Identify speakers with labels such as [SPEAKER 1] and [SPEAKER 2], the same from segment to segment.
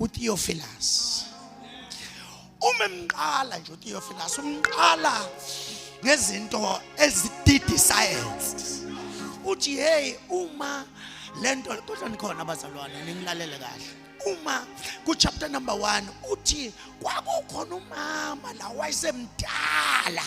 [SPEAKER 1] uTheophilus uma emqala nje uTheophilus umqala ngezinto ezididi science uthi hey uma lento kodwa nikhona abazalwane ningilalele kahle uma ku chapter number 1 uthi kwakukhona umama la wayesemdala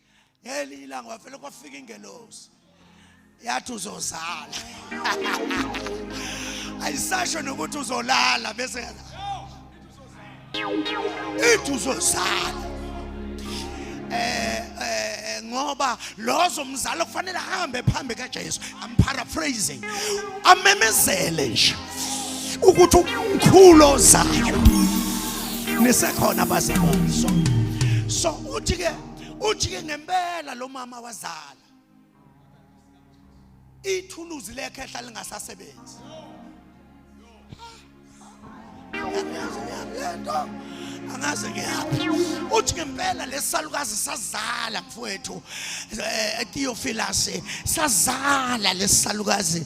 [SPEAKER 1] ngelinye ilanga wavele kwafika ingelosi yathi uzozala ayisasho nokuthi uzolala bese ithi uzozala eh, eh ngoba lozo mzalo kufanele ahambe phambi kaJesu i'm paraphrasing amemezele nje ukuthi umkhulu ozayo nisekhona bazalwane so so uthi ke ujike ngempela lo mama wazala ithuluzi lekhehla lingasasebenzi angazi ngiyaphi lento angazi ngiyaphi uthi ngempela lesalukazi sazala mfowethu eh, etiyofilasi sazala lesalukazi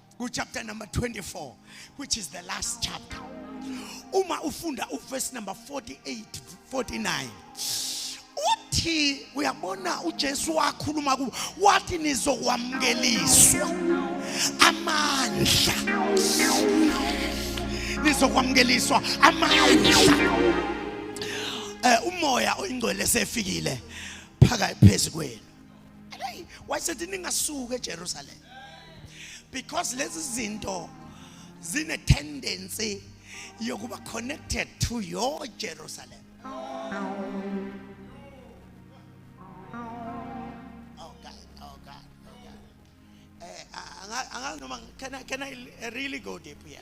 [SPEAKER 1] ku chapter number 24 which is the last chapter uma ufunda uverse number 48 49 uthi uyabona uJesu wakhuluma ku wathi nizokwamukeliswa amandla nizokwamukeliswa amandla eh umoya oyingcwele sefikile phaka phezu kwenu Hey, wayesethi ningasuki eJerusalem. Because lezi zinto zine tendency yokuba connected to your Jerusalem. eh anga noma can I, can I really go deep here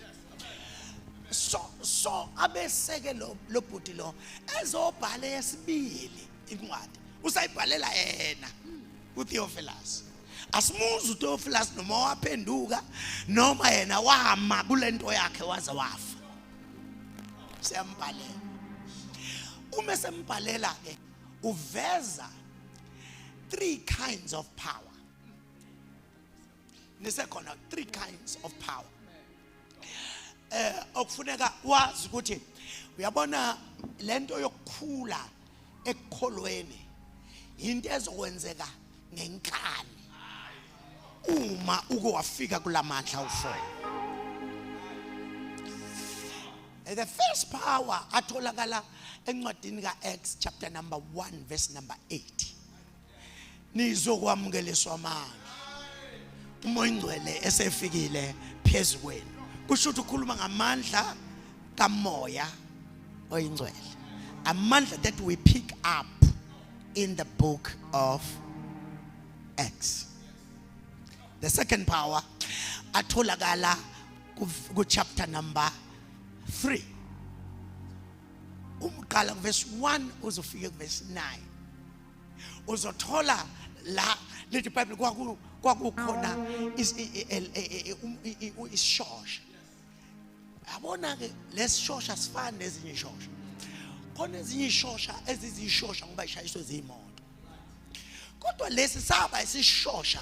[SPEAKER 1] so so abeseke lo lobhuti lo ezobhala yesibili incwadi usayibhalela yena uTheophilus asimuzi uTheophilus noma waphenduka noma yena wama kulento yakhe waze wafa siyambhalela uma sembhalela ke uveza three kinds of power nisekhona three kinds of power eh okufuneka wazi ukuthi uyabona lento yokukhula ekukholweni into ezokwenzeka ngenkani uma uke wafika kulamandla ufo eh, the first power atholakala encwadini kaActs chapter number 1 verse number 8 nizokwamukeliswa manje uma ingcwele esefikile phezu kwenu kusho ukuthi ukhuluma ngamandla kamoya oyingcwele amandla that we pick up in the book of Acts the second power atholakala ku chapter number 3 umqala ku verse 1 uzofika ku verse 9 uzothola la leli bible kwaku kwakukhona isishosha yabona ke lesishosha sifana nezinye ishosha khona ezinye ishosha ezizishosha ngoba ishayiswe zimoto kodwa lesi saba isishosha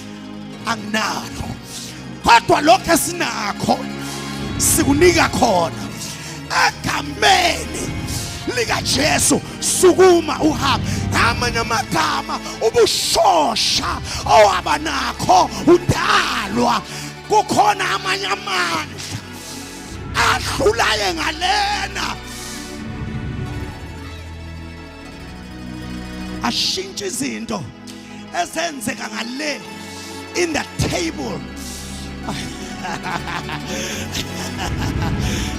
[SPEAKER 1] anginalo kodwa lokho esinakho sikunika khona egameni likaJesu sukuma uhambe ngamanye amagama ubushosha owaba nakho udalwa kukhona amanye amandla adlulaye ngalena ashintshe izinto ezenzeka ngale in the table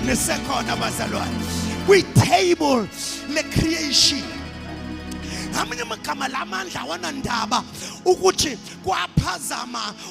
[SPEAKER 1] nisekhona bazalwane kwi-table le-creation ngamanye amagama la mandla awanandaba ukuthi kwaphazama